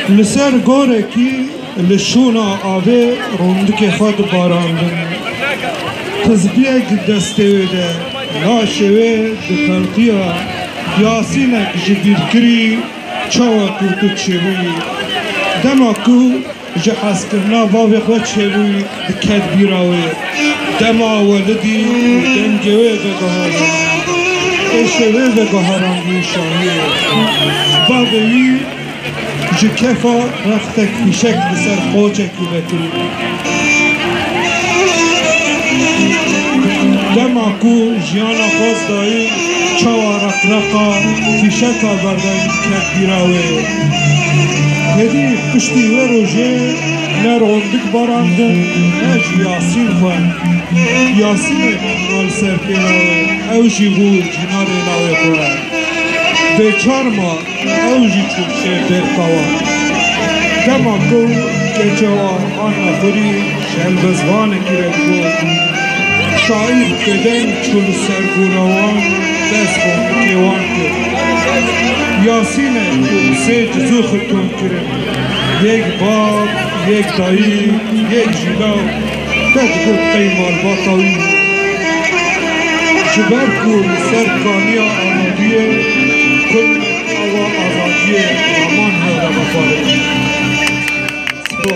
Li ser gorekî li şûna avê rûndikê xwe diparandin. Tizbiyek destê wê de laşê wê di telqiya Yasînek ji bîr kirî çawa ku tu çêbûyî. Dema ku ji hezkirina bavê xwe çêbûyî diket bîra wê. Dema welidî û dengê wê veguherandî. Êşê wê veguherandî şahî ye. Bavê wî. Ji kefa rextek fîşek li ser qocekî vekirî. Dema ku jiyana xwest dayî çawa reqreqa fîşeka berdevî ket bîra wê. Hêdî piştî wê rojê ne rondik barandin ne jî yasîn xwe. Yasînê mîna li ser pêna wê ew jî bû cîna rê navê xwe. Bêçar ma. Ew jî çûbûye bêrxewa. Dema ku keçe wan hatiye xwirî, şelbizvanekî re got, Şaîr bi deng çû li ser gora wan û dest bo fikê wan kir. Yasîn e ku sê cizû xirtûn kirin, yek bab, yek dayîk, yek jîlaw. Te digot ey malbata wî ji ber ku li ser kaniya amadiyê kum awa azadiyê raman hewre veparêtin. Spa.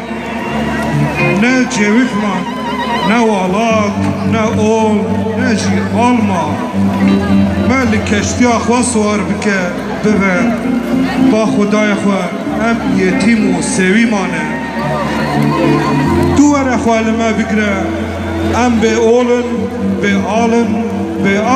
Ne cêwîxma, ne walat, ne ol, ne jî alma. Me li keştiya xwe siwar bike, bibe. Ba xwedayê xwe em yetîm û sêwî mane. Tu were xwe li me bigire, em bê ol in, bê al in, bê.